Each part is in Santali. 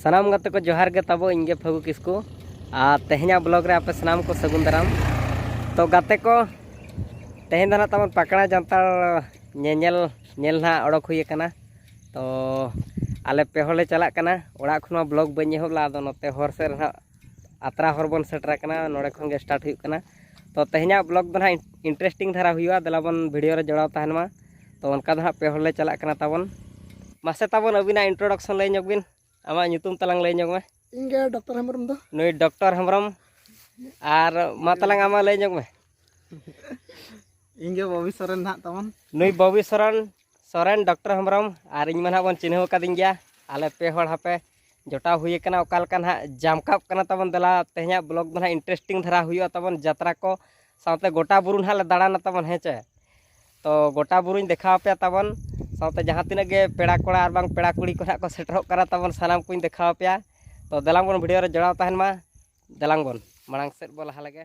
ᱥᱟᱱᱟᱢ ᱜᱟᱛᱮ ᱠᱚ ᱡᱚᱦᱟᱨ ᱜᱮ ᱛᱟᱵᱚ ᱤᱧ ᱜᱮ ᱯᱷᱟᱹᱜᱩ ᱠᱤᱥᱠᱩ ᱟᱨ ᱛᱮᱦᱮᱧᱟᱜ ᱵᱞᱚᱜ ᱨᱮ ᱟᱯᱮ ᱥᱟᱱᱟᱢ ᱠᱚ ᱥᱟᱹᱜᱩᱱ ᱫᱟᱨᱟᱢ ᱛᱚ ᱜᱟᱛᱮ ᱠᱚ ᱛᱮᱦᱮᱧ ᱫᱚ ᱱᱟᱜ ᱛᱟᱵᱚᱱ ᱯᱟᱠᱲᱟ ᱡᱟᱱᱛᱟᱲ ᱧᱮᱧᱮᱞ ᱧᱮᱞ ᱱᱟᱜ ᱚᱰᱚᱠ ᱦᱩᱭ ᱟᱠᱟᱱᱟ ᱛᱚ ᱟᱞᱮ ᱯᱮ ᱦᱚᱲ ᱞᱮ ᱪᱟᱞᱟᱜ ᱠᱟᱱᱟ ᱚᱲᱟᱜ ᱠᱷᱚᱱ ᱢᱟ ᱵᱞᱚᱜ ᱵᱟᱹᱧ ᱮᱦᱚᱵ ᱞᱮᱫᱟ ᱟᱫᱚ ᱱᱚᱛᱮ ᱦᱚᱨ ᱥᱮᱫ ᱨᱮ ᱱᱟᱜ ᱟᱛᱨᱟ ᱦᱚᱨ ᱵᱚᱱ ᱥᱮᱴᱮᱨ ᱟᱠᱟᱱᱟ ᱱᱚᱰᱮ ᱠᱷᱚᱱ ᱜᱮ ᱥᱴᱟᱨᱴ ᱦᱩᱭᱩᱜ ᱠᱟᱱᱟ ᱛᱚ ᱛᱮᱦᱮᱧᱟᱜ ᱵᱞᱚᱜᱽ ᱫᱚ ᱱᱟᱦᱟᱜ ᱤᱱᱴᱟᱨᱮᱥᱴᱤᱝ ᱫᱷᱟᱨᱟ ᱦᱩᱭᱩᱜᱼᱟ ᱫᱮᱞᱟ ᱵᱚᱱ ᱵᱷᱤᱰᱤᱭᱳ ᱨᱮ ᱡᱚᱲᱟᱣ ᱛᱟᱦᱮᱱ ᱢᱟ ᱛᱚ ᱚᱱᱠᱟ ᱫᱚ ᱱᱟᱦᱟᱜ ᱯᱮ ᱦᱚᱲ ᱞᱮ ᱪᱟᱞᱟᱜ ᱠᱟᱱᱟ ᱛᱟᱵᱚᱱ ᱢᱟᱥᱮ ᱛᱟᱵᱚᱱ ᱟᱹᱵᱤᱱᱟᱜ ᱤᱱᱴᱨᱳᱰᱟᱠᱥᱚᱱ ᱞᱟᱹᱭ ᱧᱚᱜ ᱵᱤᱱ ᱟᱢᱟᱜ ᱧᱩᱛᱩᱢ ᱛᱟᱞᱟᱝ ᱞᱟᱹᱭ ᱧᱚᱜ ᱢᱮ ᱤᱧ ᱜᱮ ᱰᱚᱠᱴᱚᱨ ᱦᱮᱢᱵᱨᱚᱢ ᱫᱚ ᱱᱩᱭ ᱰᱚᱠᱴᱚᱨ ᱦᱮᱢᱵᱨᱚᱢ ᱟᱨ ᱢᱟ ᱛᱟᱞᱟᱝ ᱟᱢᱟᱜ ᱞᱟᱹᱭ ᱧᱚᱜ ᱢᱮ ᱤᱧ ᱜᱮ ᱵᱚᱵᱤ ᱥᱚᱨᱮᱱ ᱱᱟᱦᱟᱜ ᱛᱟᱵᱚᱱ ᱱᱩᱭ ᱵᱚᱵᱤ ᱥᱚᱨᱮᱱ ᱥᱚᱨᱮᱱ ᱰᱚᱠᱴᱚᱨ ᱦᱮᱢᱵᱨᱚᱢ ᱟᱨ ᱤᱧ ᱢᱟ ᱱᱟᱦᱟᱜ ᱵᱚᱱ ᱪᱤᱱᱦᱟᱹᱣ ᱟᱠᱟᱫᱤᱧ ᱜᱮᱭᱟ ᱟᱞᱮ ᱯᱮ ᱦᱚᱲ ᱦᱟᱯᱮ ᱡᱚᱴᱟᱣ ᱦᱩᱭ ᱟᱠᱟᱱᱟ ᱚᱠᱟ ᱞᱮᱠᱟ ᱱᱟᱦᱟᱜ ᱡᱟᱢᱠᱟᱯ ᱠᱟᱱᱟ ᱛᱟᱵᱚᱱ ᱫᱮᱞᱟ ᱛᱮᱦᱮᱧᱟᱜ ᱵᱞᱚᱜ ᱫᱚ ᱱᱟᱦᱟᱜ ᱤᱱᱴᱟᱨᱮᱥᱴᱤᱝ ᱫᱷᱟᱨᱟ ᱦᱩᱭᱩᱜᱼᱟ ᱛᱟᱵᱚᱱ ᱡᱟᱛᱨᱟ ᱠᱚ ᱥᱟᱶᱛᱮ ᱜᱚᱴᱟ ᱵᱩᱨᱩ ᱱᱟᱦᱟᱜ ᱞᱮ ᱫᱟᱬᱟᱱᱟ ᱛᱟᱵᱚᱱ ᱦᱮᱸ ᱪᱮ ᱛᱚ ᱜᱚᱴᱟ ᱵᱩᱨᱩᱧ ᱫᱮᱠᱷᱟᱣ ᱟᱯᱮᱭᱟ ᱛᱟᱵᱚᱱ ᱥᱟᱶᱛᱮ ᱡᱟᱦᱟᱸ ᱛᱤᱱᱟᱹᱜ ᱜᱮ ᱯᱮᱲᱟ ᱠᱚᱲᱟ ᱟᱨ ᱵᱟᱝ ᱯᱮᱲᱟ ᱠᱩᱲᱤ ᱠᱚ ᱱᱟᱦᱟᱜ ᱠᱚ ᱥᱮᱴᱮᱨᱚᱜ ᱠᱟᱱᱟ ᱛᱟᱵᱚᱱ ᱥᱟᱱᱟᱢ ᱠᱚᱧ ᱫᱮᱠᱷᱟᱣ ᱟᱯᱮᱭᱟ ᱛᱚ ᱫᱮᱞᱟᱝ ᱵᱚᱱ ᱵᱷᱤᱰᱤᱭᱳ ᱨᱮ ᱡᱚᱲᱟᱣ ᱛᱟᱦᱮᱱ ᱢᱟ ᱫᱮᱞᱟᱝ ᱵᱚᱱ ᱢᱟᱲᱟᱝ ᱥᱮᱫ ᱵᱚᱱ ᱞᱟᱦᱟ ᱞᱮᱜᱮ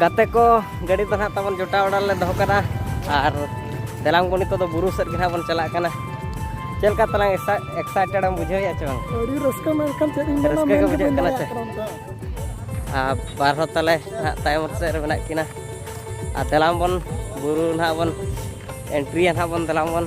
ᱜᱟᱛᱮ ᱠᱚ ᱜᱟᱹᱰᱤ ᱫᱚ ᱱᱟᱦᱟᱜ ᱛᱟᱵᱚᱱ ᱡᱚᱴᱟᱣ ᱵᱟᱲᱟ ᱞᱮ ᱫᱚᱦᱚ ᱠᱟᱫᱟ ᱟᱨ ᱫᱮᱞᱟᱝ ᱵᱚᱱ ᱱᱤᱛᱚᱜ ᱫᱚ ᱵᱩᱨᱩ ᱥᱮᱫ ᱜᱮ ᱱᱟᱦᱟᱜ ᱵᱚᱱ ᱪᱟᱞᱟᱜ ᱠᱟᱱᱟ ᱪᱮᱫ ᱞᱮᱠᱟ ᱛᱟᱞᱟᱝ ᱮᱠᱥᱟᱭᱴᱮᱰ ᱮᱢ ᱵᱩᱡᱷᱟᱹᱣᱮᱫᱼᱟ ᱪᱮ ᱵᱟᱝ ᱟᱹᱰᱤ ᱨᱟᱹᱥᱠᱟᱹ ᱢᱮᱱᱠᱷᱟᱱ ᱪᱮᱫ ᱤᱧ ᱨᱟᱹᱥᱠᱟᱹ ᱜᱮ ᱵᱩᱡᱷᱟᱹᱜ ᱠᱟᱱᱟ ᱪᱮ ᱟᱨ ᱵᱟᱨ ᱦᱚᱲ ᱛᱟᱞᱮ ᱱᱟᱦᱟᱜ ᱛᱟᱭᱚᱢ ᱥᱮᱫ ᱨᱮ ᱢᱮᱱᱟᱜ ᱠᱤᱱᱟ ᱟᱨ ᱫᱮᱞᱟᱝ ᱵᱚᱱ ᱵᱩᱨᱩ ᱱᱟᱦᱟᱜ ᱵᱚᱱ ᱮᱱᱴᱨᱤᱭᱟ ᱱᱟᱦᱟᱜ ᱵᱚᱱ ᱫᱮᱞᱟᱝ ᱵᱚᱱ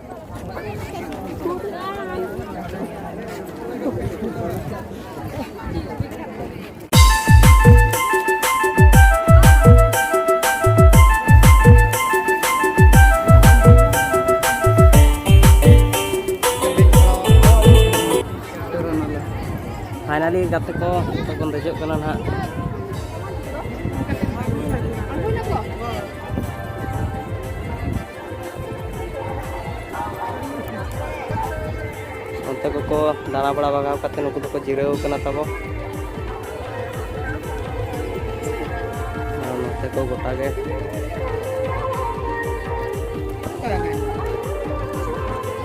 ᱯᱷᱟᱭᱱᱟᱞᱤ ᱜᱟᱛᱮ ᱠᱚ ᱡᱚᱛᱚ ᱵᱚᱱ ᱫᱮᱡᱚᱜ ᱠᱟᱱᱟ ᱱᱟᱦᱟᱜ ᱚᱱᱛᱮ ᱠᱚᱠᱚ ᱫᱟᱬᱟ ᱵᱟᱲᱟ ᱵᱟᱜᱟᱣ ᱠᱟᱛᱮ ᱱᱩᱠᱩ ᱫᱚᱠᱚ ᱡᱤᱨᱟᱹᱣ ᱠᱟᱱᱟ ᱛᱟᱵᱚ ᱱᱚᱛᱮ ᱠᱚ ᱜᱚᱴᱟ ᱜᱮ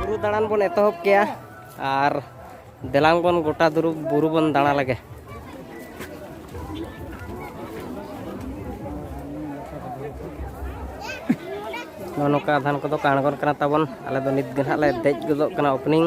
ᱵᱩᱨᱩ ᱫᱟᱬᱟᱱ ᱵᱚᱱ ᱮᱛᱚᱦᱚᱵ ᱠᱮᱭᱟ ᱟᱨ ᱫᱮᱞᱟᱝ ᱵᱚᱱ ᱜᱚᱴᱟ ᱫᱩᱨᱩᱵ ᱵᱩᱨᱩ ᱵᱚᱱ ᱫᱟᱬᱟ ᱞᱮᱜᱮ ᱱᱚᱜᱼᱚ ᱱᱚᱝᱠᱟ ᱟᱫᱷᱟᱱ ᱠᱚᱫᱚ ᱠᱚ ᱟᱬᱜᱚᱱ ᱠᱟᱱᱟ ᱛᱟᱵᱚᱱ ᱟᱞᱮ ᱫᱚ ᱱᱤᱛ ᱜᱮ ᱱᱟᱦᱟᱜ ᱞᱮ ᱫᱮᱡ ᱜᱚᱫᱚᱜ ᱠᱟᱱᱟ ᱳᱯᱮᱱᱤᱝ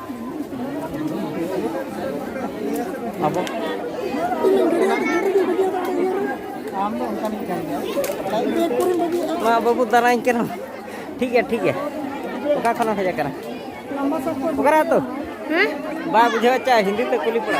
ᱟᱵᱚ ᱢᱟ ᱵᱟᱹᱵᱩ ᱫᱟᱨᱟᱧ ᱠᱟᱱᱟ ᱴᱷᱤᱠ ᱜᱮᱭᱟ ᱴᱷᱤᱠ ᱜᱮᱭᱟ ᱚᱠᱟ ᱠᱷᱚᱱᱮᱢ ᱦᱮᱡ ᱟᱠᱟᱱᱟ ᱚᱠᱟᱨᱮ ᱟᱛᱳ ᱵᱟᱭ ᱵᱩᱡᱷᱟᱹᱣ ᱪᱟ ᱦᱤᱱᱫᱤ ᱛᱮ ᱠᱩᱞᱤ ᱯᱟᱲᱟ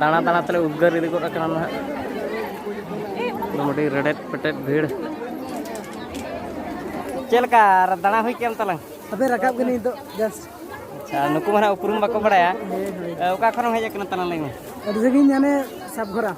ᱫᱟᱬᱟ ᱫᱟᱬᱟ ᱛᱮᱞᱮ ᱩᱫᱽᱜᱟᱹᱨ ᱤᱫᱤ ᱜᱚᱫ ᱟᱠᱟᱱᱟ ᱱᱟᱦᱟᱜ ᱢᱚᱴᱟᱢᱩᱴᱤ ᱨᱮᱰᱮᱫ ᱯᱮᱴᱮᱫ ᱵᱷᱤᱲ ᱪᱮᱫ ᱞᱮᱠᱟ ᱫᱟᱬᱟ ᱦᱩᱭ ᱠᱮᱫ ᱛᱟᱞᱟᱝ ᱟᱯᱮ ᱨᱟᱠᱟᱵ ᱜᱮ ᱱᱤᱛᱚᱜ ᱡᱟᱥᱴ ᱟᱪᱪᱷᱟ ᱱᱩᱠᱩ ᱢᱟ ᱱᱟᱦᱟᱜ ᱩᱯᱨᱩᱢ ᱵᱟᱠᱚ ᱵᱟᱲᱟᱭᱟ ᱚᱠᱟ ᱠᱷᱚᱱᱮᱢ ᱦᱮᱡ ᱟᱠᱟᱱᱟ ᱛᱟᱞᱟᱝ ᱞᱟᱹᱭ ᱢᱮ ᱟᱹᱰᱤ ᱥᱟᱺᱜᱤᱧ ᱦᱟᱱᱮ ᱥᱟᱵᱜᱷᱚᱨᱟ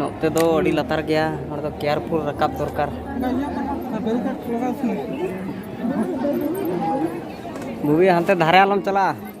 ᱱᱚᱛᱮ ᱫᱚ ᱟᱹᱰᱤ ᱞᱟᱛᱟᱨ ᱜᱮᱭᱟ ᱱᱚᱰᱮ ᱫᱚ ᱠᱮᱭᱟᱨᱯᱷᱩᱞ ᱨᱟᱠᱟᱵ ᱫᱚᱨᱠᱟᱨ ᱵᱩᱜᱤ ᱦᱟᱱᱛᱮ ᱫᱷᱟᱨᱮ ᱟᱞᱚᱢ ᱪᱟᱞᱟᱜᱼᱟ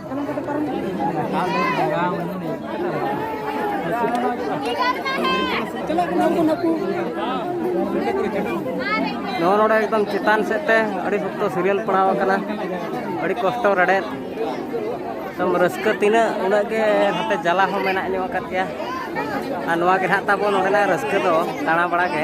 ᱱᱚᱣᱟ ᱱᱚᱰᱮ ᱮᱠᱫᱚᱢ ᱪᱮᱛᱟᱱ ᱥᱮᱫ ᱛᱮ ᱟᱹᱰᱤ ᱥᱚᱠᱛᱚ ᱥᱤᱨᱤᱭᱟᱞ ᱯᱟᱲᱟᱣ ᱟᱠᱟᱱᱟ ᱟᱹᱰᱤ ᱠᱚᱥᱴᱚ ᱨᱮᱰᱮᱫ ᱮᱠᱫᱚᱢ ᱨᱟᱹᱥᱠᱟᱹ ᱛᱤᱱᱟᱹᱜ ᱩᱱᱟᱹᱜ ᱜᱮ ᱱᱚᱛᱮ ᱡᱟᱞᱟ ᱦᱚᱸ ᱢᱮᱱᱟᱜ ᱧᱚᱜ ᱟᱠᱟᱫ ᱜᱮᱭᱟ ᱟᱨ ᱱᱚᱣᱟ ᱜᱮ ᱱᱟᱦᱟᱜ ᱛᱟᱵᱚ ᱱᱚᱰᱮᱱᱟᱜ ᱨᱟᱹᱥᱠᱟᱹ ᱫᱚ ᱫᱟᱬᱟ ᱵᱟᱲᱟ ᱜᱮ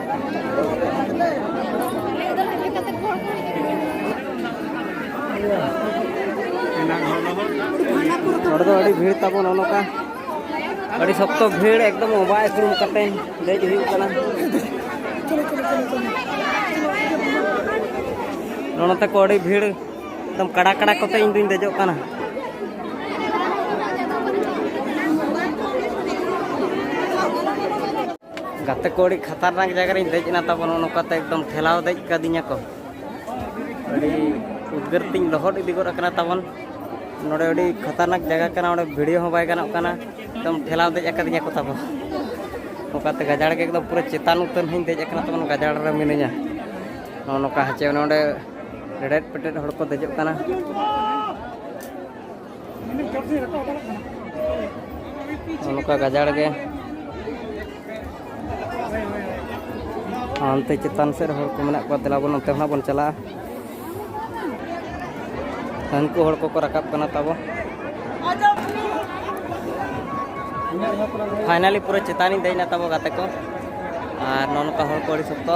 ᱦᱚᱲ ᱫᱚ ᱟᱹᱰᱤ ᱵᱷᱤᱲ ᱛᱟᱵᱚᱱ ᱚᱱᱠᱟ ᱟᱹᱰᱤ ᱥᱚᱠᱛᱚ ᱵᱷᱤᱲ ᱮᱠᱫᱚᱢ ᱚᱵᱟᱭ ᱫᱩᱲᱩᱵ ᱠᱟᱛᱮ ᱫᱮᱡ ᱦᱩᱭᱩᱜ ᱠᱟᱱᱟ ᱱᱚᱰᱮ ᱛᱟᱠᱚ ᱟᱹᱰᱤ ᱵᱷᱤᱲ ᱮᱠᱫᱚᱢ ᱠᱟᱲᱟ ᱠᱟᱲᱟ ᱠᱚᱛᱮ ᱤᱧ ᱫᱩᱧ ᱫᱮᱡᱚᱜ ᱠᱟᱱᱟ ᱜᱟᱛᱮ ᱠᱚ ᱟᱹᱰᱤ ᱠᱷᱟᱛᱟᱨᱱᱟᱠ ᱡᱟᱭᱜᱟ ᱨᱤᱧ ᱫᱮᱡ ᱮᱱᱟ ᱛᱟᱵᱚᱱ ᱱᱚᱜᱼᱚ ᱱᱚᱝᱠᱟᱛᱮ ᱮᱠᱫᱚᱢ ᱴᱷᱮᱞᱟᱣ ᱫᱮᱡ ᱠᱟᱫᱤᱧᱟ ᱠᱚ ᱟᱹᱰᱤ ᱩᱫᱽᱜᱟᱹᱨ ᱛᱤᱧ ᱞᱚᱦᱚᱫ ᱤᱫᱤ ᱜᱚᱫ ᱟᱠᱟᱱᱟ ᱛᱟᱵᱚᱱ ᱱᱚᱰᱮ ᱟᱹᱰᱤ ᱠᱷᱟᱛᱟᱨᱱᱟᱠ ᱡᱟᱭᱜᱟ ᱠᱟᱱᱟ ᱚᱸᱰᱮ ᱵᱷᱤᱰᱤᱭᱳ ᱦᱚᱸ ᱵᱟᱭ ᱜᱟᱱᱚᱜ ᱠᱟᱱᱟ ᱮᱠᱫᱚᱢ ᱴᱷᱮᱞᱟᱣ ᱫᱮᱡ ᱟᱠᱟᱫᱤᱧᱟ ᱠᱚ ᱛᱟᱵᱚᱱ ᱚᱱᱠᱟᱛᱮ ᱜᱟᱡᱟᱲ ᱜᱮ ᱮᱠᱫᱚᱢ ᱯᱩᱨᱟᱹ ᱪᱮᱛᱟᱱ ᱩᱛᱟᱹᱨ ᱦᱚᱧ ᱫᱮᱡ ᱟᱠᱟᱱᱟ ᱛᱟᱵᱚᱱ ᱜᱟᱡᱟᱲ ᱨᱮ ᱢᱤᱱᱟᱹᱧᱟ ᱱᱚᱜᱼᱚ ᱱᱚᱝᱠᱟ ᱦᱮᱸᱪᱮ ᱱᱚᱰᱮ ᱨᱮᱰᱮᱫ ᱯᱮᱴᱮᱫ ᱦᱚᱲ ᱠᱚ ᱫᱮᱡᱚᱜ ᱠᱟᱱᱟ ᱱᱚᱝᱠᱟ ᱜᱟᱡᱟᱲ ᱜᱮ ᱦᱟᱱᱛᱮ ᱪᱮᱛᱟᱱ ᱥᱮᱫ ᱦᱚᱲ ᱠᱚ ᱢᱮᱱᱟᱜ ᱠᱚᱣᱟ ᱫᱮᱞᱟ ᱵᱚᱱ ᱚᱱᱛᱮ ᱦᱚᱸ ᱵᱚᱱ ᱪᱟᱞᱟᱜᱼᱟ ᱦᱟᱹᱱᱠᱩ ᱦᱚᱲ ᱠᱚᱠᱚ ᱨᱟᱠᱟᱵ ᱠᱟᱱᱟ ᱛᱟᱵᱚ ᱯᱷᱟᱭᱱᱟᱞᱤ ᱯᱩᱨᱟᱹ ᱪᱮᱛᱟᱱᱤᱧ ᱫᱮᱡ ᱮᱱᱟ ᱛᱟᱵᱚ ᱜᱟᱛᱮ ᱠᱚ ᱟᱨ ᱱᱚᱜᱼᱚ ᱱᱚᱝᱠᱟ ᱦᱚᱲ ᱠᱚ ᱟᱹᱰᱤ ᱥᱚᱠᱛᱚ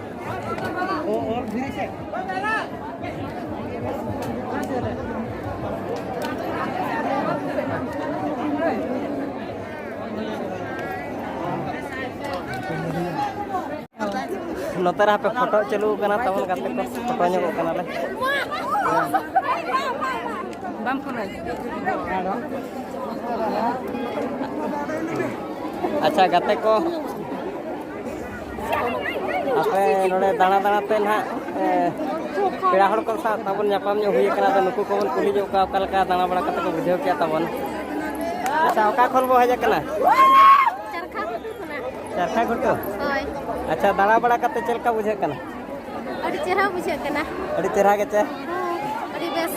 ᱱᱚᱛᱮ ᱨᱮ ᱦᱟᱯᱮ ᱯᱷᱳᱴᱳ ᱪᱟᱹᱞᱩ ᱠᱟᱱᱟ ᱛᱟᱵᱚᱱ ᱜᱟᱛᱮ ᱠᱚ ᱯᱷᱳᱴᱳ ᱧᱚᱜᱚᱜ ᱠᱟᱱᱟᱞᱮ ᱵᱟᱢ ᱯᱷᱳᱱᱟ ᱟᱪᱪᱷᱟ ᱜᱟᱛᱮ ᱠᱚ ᱟᱯᱮ ᱱᱚᱰᱮ ᱫᱟᱬᱟ ᱫᱟᱬᱟ ᱛᱮ ᱱᱟᱦᱟᱜ ᱯᱮᱲᱟ ᱦᱚᱲ ᱠᱚ ᱥᱟᱶ ᱛᱟᱵᱚᱱ ᱧᱟᱯᱟᱢ ᱧᱚᱜ ᱦᱩᱭ ᱟᱠᱟᱱᱟ ᱟᱫᱚ ᱱᱩᱠᱩ ᱠᱚᱵᱚᱱ ᱠᱩᱞᱤ ᱧᱚᱜ ᱠᱚᱣᱟ ᱚᱠᱟ ᱞᱮᱠᱟ ᱫᱟᱬᱟ ᱵᱟᱲᱟ ᱠᱟᱛᱮ ᱠᱚ ᱵᱩᱡᱷᱟᱹᱣ ᱠᱮᱜᱼᱟ ᱛᱟᱵᱚᱱ ᱟᱪᱪᱷᱟ ᱚᱠᱟ ᱠᱷᱚᱱ ᱵᱚ ᱦᱮᱡ ᱟᱠᱟᱱᱟ ᱪᱟᱨᱠᱷᱟ ᱜᱷᱩᱴᱩ ᱦᱳᱭ ᱟᱪᱪᱷᱟ ᱫᱟᱬᱟ ᱵᱟᱲᱟ ᱠᱟᱛᱮ ᱪᱮᱫ ᱞᱮᱠᱟ ᱵᱩᱡᱷᱟᱹᱜ ᱠᱟᱱᱟ ᱟᱹᱰᱤ ᱪᱮᱦᱨᱟ ᱵᱩᱡᱷᱟᱹᱜ ᱠᱟᱱᱟ ᱟᱹᱰᱤ ᱪᱮᱦᱨᱟ ᱜᱮ ᱪᱮ ᱟᱹᱰᱤ ᱵᱮᱥ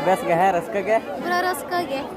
ᱵᱮᱥ ᱜᱮ ᱦᱮᱸ ᱨᱟᱹᱥᱠᱟᱹ ᱜᱮ ᱯᱩᱨᱟᱹ ᱨᱟᱹᱥᱠᱟᱹ ᱜᱮ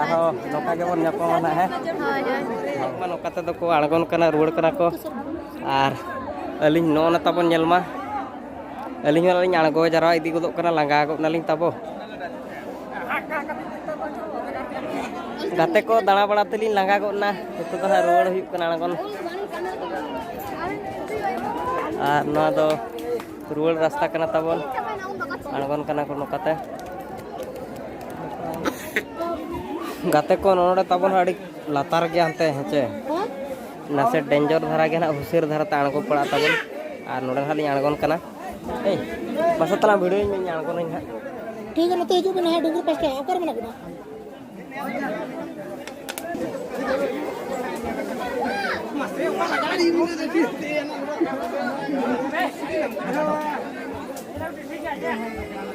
ᱟᱨᱦᱚᱸ ᱱᱚᱝᱠᱟ ᱜᱮᱵᱚᱱ ᱧᱟᱯᱟᱢᱟ ᱱᱟᱜ ᱦᱮᱸ ᱢᱟ ᱱᱚᱝᱠᱟ ᱛᱮᱫᱚ ᱠᱚ ᱟᱬᱜᱚᱱ ᱠᱟᱱᱟ ᱨᱩᱣᱟᱹᱲ ᱠᱟᱱᱟ ᱠᱚ ᱟᱨ ᱟᱹᱞᱤᱧ ᱱᱚᱜᱼᱚ ᱱᱟ ᱛᱟᱵᱚᱱ ᱧᱮᱞ ᱢᱟ ᱟᱹᱞᱤᱧ ᱦᱚᱸ ᱞᱤᱧ ᱟᱬᱜᱚ ᱡᱟᱣᱨᱟ ᱤᱫᱤ ᱜᱚᱫᱚᱜ ᱠᱟᱱᱟ ᱞᱟᱸᱜᱟ ᱜᱚᱫ ᱱᱟᱞᱤᱧ ᱛᱟᱵᱚ ᱜᱟᱛᱮ ᱠᱚ ᱫᱟᱬᱟ ᱵᱟᱲᱟ ᱛᱮᱞᱤᱧ ᱞᱟᱸᱜᱟ ᱜᱚᱫ ᱱᱟ ᱱᱤᱛᱚᱜ ᱫᱚ ᱦᱟᱸᱜ ᱨᱩᱣᱟᱹᱲ ᱦᱩᱭᱩᱜ ᱠᱟᱱᱟ ᱟᱬᱜᱚᱱ ᱟᱨ ᱱᱚᱣᱟ ᱫᱚ ᱨᱩᱣᱟᱹᱲ ᱨᱟᱥᱛᱟ ᱠᱟᱱᱟ ᱛᱟᱵᱚᱱ ᱟᱬᱜᱚᱱ ᱠᱟᱱᱟ ᱠᱚ ᱱᱚᱝᱠᱟᱛᱮ ᱜᱟᱛᱮ ᱠᱚ ᱱᱚᱰᱮ ᱛᱟᱵᱚᱱ ᱟᱹᱰᱤ ᱞᱟᱛᱟᱨ ᱜᱮᱭᱟ ᱦᱟᱱᱛᱮ ᱦᱮᱸᱪᱮ ᱱᱟᱥᱮ ᱰᱮᱧᱡᱚᱨ ᱫᱷᱟᱨᱟ ᱜᱮ ᱱᱟᱦᱟᱜ ᱦᱩᱥᱤᱨ ᱫᱷᱟᱨᱟ ᱛᱮ ᱟᱬᱜᱚ ᱯᱟᱲᱟᱜ ᱛᱟᱵᱚᱱ ᱟᱨ ᱱᱚᱰᱮ ᱱᱟᱦᱟᱜ ᱞᱤᱧ ᱟᱬᱜᱚᱱ ᱠᱟᱱᱟ ᱦᱮᱸ ᱢᱟᱥᱮ ᱛᱟᱞᱟᱝ ᱵᱷᱤᱰᱤᱭᱳᱧ ᱢᱮ ᱤᱧ ᱟᱬᱜᱚᱱᱟᱹᱧ ᱱᱟᱦᱟᱜ ᱴᱷᱤᱠ ᱜᱮᱭᱟ ᱱᱚᱛᱮ ᱦᱤᱡᱩᱜ ᱵᱮᱱ ᱱᱟᱦᱟᱜ ᱰᱩᱝᱜᱩᱨ ᱯᱟᱥᱴᱟ ᱚᱠᱟᱨᱮ ᱢᱮᱱᱟᱜ ᱵᱮᱱᱟ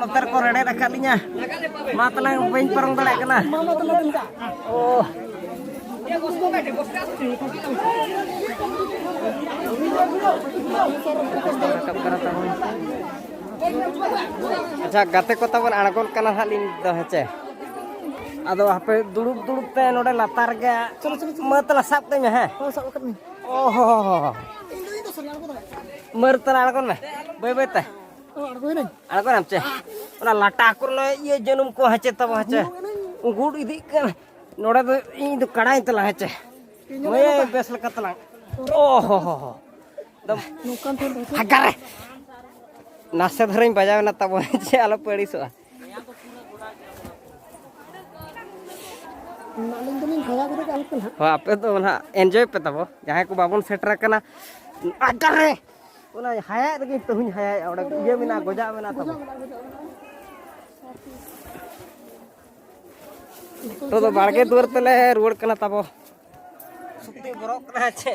ᱱᱚᱛᱮᱨ ᱠᱚ ᱨᱮᱲᱮᱫ ᱟᱠᱟᱫ ᱞᱤᱧᱟ ᱢᱟ ᱛᱟᱞᱟᱝ ᱵᱟᱹᱧ ᱯᱟᱨᱚᱢ ᱫᱟᱲᱮᱭᱟᱜ ᱠᱟᱱᱟ ᱳ ᱨᱟᱠᱟᱵ ᱠᱟᱱᱟ ᱛᱟᱵᱚᱱ ᱟᱪᱪᱷᱟ ᱜᱟᱛᱮ ᱠᱚ ᱛᱟᱵᱚᱱ ᱟᱬᱜᱚᱱ ᱠᱟᱱᱟ ᱦᱟᱸᱜ ᱞᱤᱧ ᱫᱚ ᱦᱮᱸᱪᱮ ᱟᱫᱚ ᱦᱟᱯᱮ ᱫᱩᱲᱩᱵ ᱫᱩᱲᱩᱵ ᱛᱮ ᱱᱚᱰᱮ ᱞᱟᱛᱟᱨ ᱜᱮ ᱢᱟᱹ ᱛᱟᱞᱟ ᱥᱟᱵ ᱠᱟᱹᱧ ᱢᱮ ᱦᱮᱸ ᱚ ᱦᱚ ᱦᱚ ᱦᱚ ᱢᱟᱹᱨ ᱛᱟᱞᱟ ᱟᱬᱜᱚᱱ ᱢᱮ ᱵᱟᱹᱭ ᱵᱟᱹᱭ ᱛᱮ ᱟᱬᱜᱚᱱᱟᱢ ᱪᱮ ᱚᱱᱟ ᱞᱟᱴᱟ ᱠᱚᱨᱮ ᱱᱚᱜᱼᱚᱭ ᱤᱭᱟᱹ ᱡᱟᱹᱱᱩᱢ ᱠᱚ ᱦᱮᱸᱪᱮ ᱛᱟᱵᱚ ᱦᱮᱸᱪᱮ ᱩᱜᱩᱲ ᱤᱫᱤᱜ ᱠᱟᱱᱟ ᱱᱚᱰᱮ ᱫᱚ ᱤᱧ ᱫᱚ ᱠᱟᱲᱟᱧ ᱛᱟᱞᱟᱝ ᱦᱮᱸᱪᱮ ᱢᱟᱹᱭ ᱵᱮᱥ ᱞᱮᱠᱟ ᱛᱟᱞᱟᱝ ᱚ ᱦᱚ ᱦᱚ ᱦᱚ ᱱᱟᱥᱮ ᱫᱷᱟᱨᱟᱧ ᱵᱟᱡᱟᱣ ᱮᱱᱟ ᱛᱟᱵᱚᱱ ᱪᱮᱫ ᱟᱞᱚ ᱯᱮ ᱟᱹᱲᱤᱥᱚᱜᱼᱟ ᱦᱳᱭ ᱟᱯᱮ ᱫᱚ ᱱᱟᱦᱟᱜ ᱮᱱᱡᱚᱭ ᱯᱮ ᱛᱟᱵᱚ ᱡᱟᱦᱟᱸᱭ ᱠᱚ ᱵᱟᱵᱚᱱ ᱥᱮᱴᱮᱨ ᱟᱠᱟᱱᱟ ᱟᱰᱟᱨᱮ ᱚᱱᱟ ᱦᱟᱭᱟᱜ ᱨᱮᱜᱮ ᱛᱮᱦᱮᱧ ᱦᱟᱭᱟᱭᱮᱜᱼᱟ ᱚᱸᱰᱮ ᱤᱭᱟᱹ ᱢᱮᱱᱟᱜᱼᱟ ᱜᱚᱡᱟᱜ ᱢᱮᱱᱟᱜᱼᱟ ᱛᱟᱵᱚ ᱛᱚ ᱫᱚ ᱵᱟᱲᱜᱮ ᱫᱩᱣᱟᱹᱨ ᱛᱮᱞᱮ ᱨᱩᱣᱟᱹᱲ ᱠᱟᱱᱟ ᱛᱟᱵᱚ ᱥᱩᱛᱤ ᱵᱚᱨᱚᱜ ᱠᱟᱱᱟ ᱪᱮ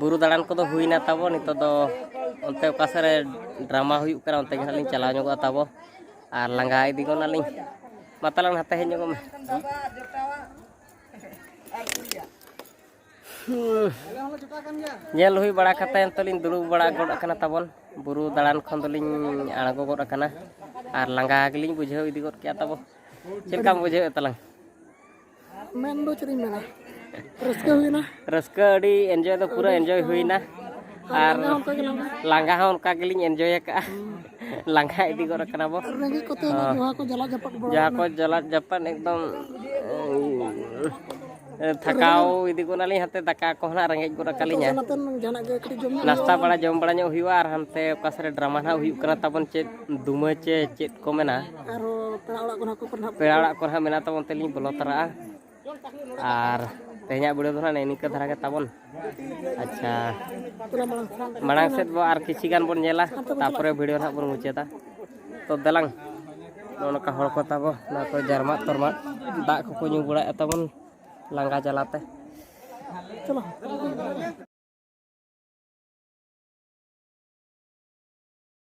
ᱵᱩᱨᱩ ᱫᱟᱬᱟᱱ ᱠᱚᱫᱚ ᱦᱩᱭᱱᱟ ᱛᱟᱵᱚ ᱱᱤᱛᱚᱜ ᱫᱚ ᱚᱱᱛᱮ ᱚᱠᱟ ᱥᱮᱫ ᱨᱮ ᱰᱨᱟᱢᱟ ᱦᱩᱭᱩᱜ ᱠᱟᱱᱟ ᱚᱱᱛᱮ ᱜᱮ ᱦᱟᱸᱜ ᱞᱤᱧ ᱪᱟᱞᱟᱣ ᱧᱚᱜᱚᱜᱼᱟ ᱛᱟᱵᱚ ᱟᱨ ᱞᱟᱸᱜᱟ ᱤᱫᱤ ᱜᱚᱫ ᱱᱟᱞᱤᱧ ᱢᱟ ᱛᱟᱞᱟᱝ ᱦᱟᱛᱮ ᱦᱮᱡ ᱧᱚᱜᱚᱜ ᱢᱮ ᱧᱮᱞ ᱦᱩᱭ ᱵᱟᱲᱟ ᱠᱟᱛᱮ ᱱᱤᱛᱚᱜ ᱞᱤᱧ ᱫᱩᱲᱩᱵ ᱵᱟᱲᱟ ᱜᱚᱫ ᱟᱠᱟᱱᱟ ᱛᱟᱵᱚᱱ ᱵᱩᱨᱩ ᱫᱟᱬᱟᱱ ᱠᱷᱚᱱ ᱫᱚᱞᱤᱧ ᱟᱬᱜᱚ ᱜᱚᱫ ᱟᱠᱟᱱᱟ ᱟᱨ ᱞᱟᱸᱜᱟ ᱜᱮᱞᱤᱧ ᱵᱩᱡᱷᱟᱹᱣ ᱤᱫᱤ ᱜᱚᱫ ᱠᱮᱜᱼᱟ ᱛᱟᱵᱚ ᱪᱮᱫ ᱞᱮᱠᱟᱢ ᱵᱩᱡᱷᱟᱹᱣᱮᱫ ᱛᱟᱞᱟᱝ ᱢᱮᱱ ᱫᱚ ᱪᱮᱫ ᱤᱧ ᱢᱮᱱᱟ ᱨᱟᱹᱥᱠᱟᱹ ᱦᱩᱭᱱᱟ ᱨᱟᱹᱥᱠᱟᱹ ᱟᱹᱰᱤ ᱮᱱᱡᱚᱭ ᱫᱚ ᱯᱩᱨᱟᱹ ᱮᱱᱡᱚᱭ ᱦᱩᱭᱱᱟ ᱟᱨ ᱞᱟᱸᱜᱟ ᱦᱚᱸ ᱚᱱᱠᱟ ᱜᱮᱞᱤᱧ ᱮᱱᱡᱚᱭ ᱟᱠᱟᱫᱼᱟ ᱞᱟᱸᱜᱟ ᱤᱫᱤ ᱜᱚᱫ ᱠᱟᱱᱟ ᱵᱚ ᱨᱮᱸᱜᱮᱡ ᱠᱚᱛᱮ ᱡᱟᱦᱟᱸ ᱠᱚ ᱡᱟᱞᱟᱫ ᱡᱟᱯᱟᱫ ᱡᱟᱦᱟᱸ ᱠᱚ ᱡᱟᱞᱟᱫ ᱡᱟᱯᱟᱫ ᱮᱠᱫᱚᱢ ᱛᱷᱟᱠᱟᱣ ᱤᱫᱤ ᱜᱚᱫ ᱱᱟᱞᱤᱧ ᱦᱟᱱᱛᱮ ᱫᱟᱠᱟ ᱠᱚ ᱦᱟᱸᱜ ᱨᱮᱸᱜᱮᱡ ᱜᱚᱫ ᱟᱠᱟᱞᱤᱧᱟ ᱱᱟᱥᱛᱟ ᱵᱟᱲᱟ ᱡᱚᱢ ᱵᱟᱲᱟ ᱧᱚᱜ ᱦᱩᱭᱩᱜᱼᱟ ᱟᱨ ᱦᱟᱱᱛᱮ ᱚᱠᱟ ᱥᱮᱫ ᱨᱮ ᱰᱨᱟᱢᱟ ᱦᱟᱸᱜ ᱦᱩᱭᱩᱜ ᱠᱟᱱᱟ ᱛᱟᱵᱚᱱ ᱪᱮᱫ ᱫᱩᱢᱟᱹ ᱪᱮ ᱪᱮᱫ ᱠᱚ ᱢᱮᱱᱟ ᱯᱮᱲᱟ ᱚᱲᱟᱜ ᱠᱚᱨᱮ ᱦᱟᱸᱜ ᱢᱮᱱᱟᱜ ᱛᱟᱵᱚᱱ ᱛᱮᱞᱤᱧ ᱵᱚᱞᱚ ᱛᱟᱨᱟᱜᱼᱟ ᱟᱨ ᱛᱮᱦᱮᱧᱟᱜ ᱵᱤᱰᱤᱭᱳ ᱫᱚ ᱦᱟᱸᱜ ᱱᱤᱝᱠᱟᱹ ᱫᱷᱟᱨᱟ ᱜᱮ ᱛᱟᱵᱚᱱ ᱟᱪᱪᱷᱟ ᱢᱟᱲᱟᱝ ᱥᱮᱫ ᱵᱚ ᱟᱨ ᱠᱤᱪᱷᱤ ᱜᱟᱱ ᱵᱚᱱ ᱧᱮᱞᱟ ᱛᱟᱯᱚᱨᱮ ᱵᱷᱤᱰᱤᱭᱳ ᱦᱟᱸᱜ ᱵᱚᱱ ᱢᱩᱪᱟᱹᱫᱟ ᱛᱚ ᱫᱮᱞᱟᱝ ᱱᱚᱜᱼᱚ ᱱᱚᱝᱠᱟ ᱦᱚᱲ ᱠᱚ ᱛᱟᱵᱚ ᱱᱚᱣᱟ ᱠᱚ ᱡᱟᱨᱢᱟᱜ ᱛᱚᱨᱢᱟᱜ ᱫᱟᱜ ᱠᱚᱠᱚ ᱧᱩ ᱵᱟᱲᱟᱭᱮᱫ ᱛᱟᱵᱚᱱ ᱞᱟᱸᱜᱟ ᱡᱟᱞᱟᱛᱮ ᱪᱚᱞᱚ